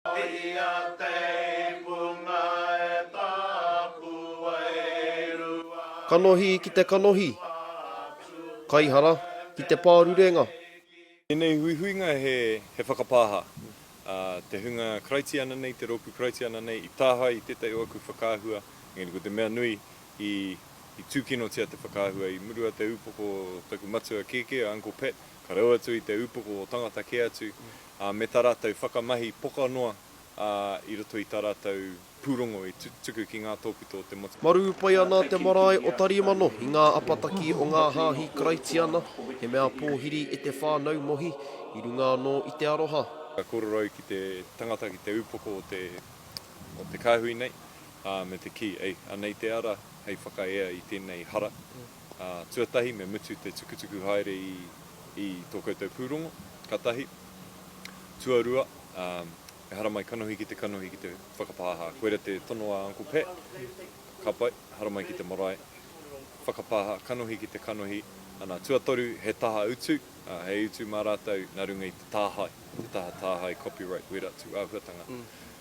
Ia teipunga e taku wairua. Kanohi ki te kanohi. Kaihara ki te pārurenga. Tēnei huihuinga he whakapāha, ā, te hunga Karaitiana nei, te rōpū Karaitiana nei, i tāhae i tētahi o aku whakaahua, engari ko te mea nui, i tūkinotia te whakaahua i murua te upoko o taku matua kēkē, a Uncle Pat, ka rau atu i te upoko o tangata kē atu, ā, me tā rātou whakamahi pokanoa, ā, i roto i tā rātou pūrongo i tuku ki ngā tōpito o te motu. Marū pai ana te marae o Tarimano i ngā apataki o ngā hāhi Karaitiana, he mea pōhiri e te whānau Mohi, i runga anō i te aroha. Ka kōrero au ki te tangata, ki te upoko o te, o te kāhui nei, ā, me te kī, ei, anei te ara hei whakaea i tēnei hara, ā, tuatahi me mutu te tukutuku haere i, i tō koutou pūrongo, ka tahi. Tuarua, ā, ehara mai kanohi ki te kanohi ki te whakapāha. Koira te tono a Uncle Pat, ka pai, ehara mai ki te marae, whakapāha, kanohi ki te kanohi, ana, tuatoru, he taha utu, ā, he utu mā rātou nā runga i te tāhae, te taha tāhae copyright wera tū āhuatanga.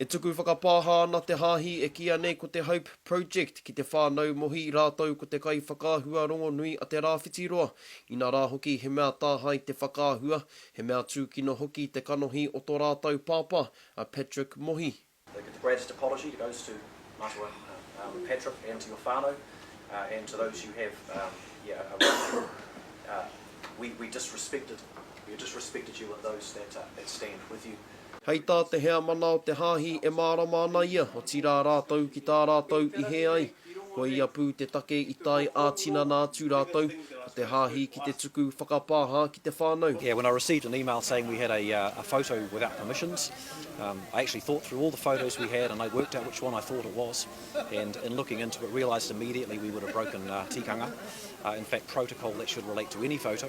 E tuku whakapāha ana te hāhi e kīia nei ko te Hope Project ki te whānau Mohi rātou ko te kaiwhakaahua rongonui a Te Rāwhitiroa, inā rā hoki he mea tāhae te whakaahua, he mea tūkino hoki te kanohi o tō rātou pāpā a Patrick Mohi. They give the greatest apology that goes to Matua Patrick and to your whānau and to those you have around you. We disrespected you and those that stand with you. Hei tā te heamana o te Hāhi e mārama ana ia, otirā rātou ki tā rātou i hē ai, koia pū te take i tae ā-tinana atu rātou, ko te Hāhi ki te tuku whakapāha ki te whānau. Yeah, when I received an email saying we had a a photo without permissions, um, I actually thought through all the photos we had and I worked out which one I thought it was, and in looking into it realised immediately we would have broken tikanga, in fact protocol that should relate to any photo.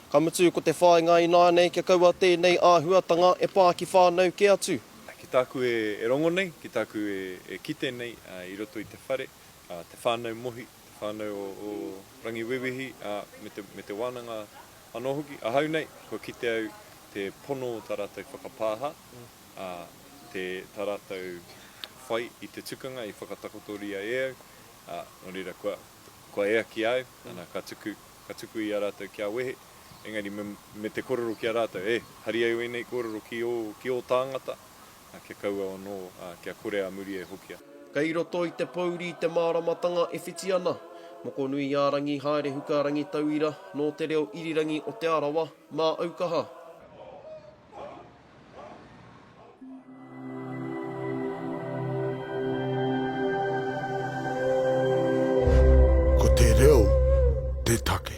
Ka mutu, ko te whāinga ināianei kia kaua tēnei āhuatanga e pā ki whānau kē atu. Ki tāku e rongo nei, ki tāku e kite nei i roto i te whare, te whānau Mohi, te whānau o Rangiwewehi me te wānanga anō hoki, ahau nei, kua kite au te pono o tā rātou whakapāha, tā rātou whai i te tukanga i whakatakotoria e au, nō reira kua ea ki a au, ana, ka tuku. ka tuku i a rātou kia wehe, engari me, me te korero ki a rātou, e, hari ai wēnei kōrero ki ō, ki ō tāngata, ā, kia kaua anō, ā, kia kore a muri e hokia. Kei roto i te pōuri te māramatanga e whiti ana. Mokonui-ā-rangi Haerehuka Rangitauira, nō te reo irirangi o Te Arawa, Māaukaha. Ko te reo te take.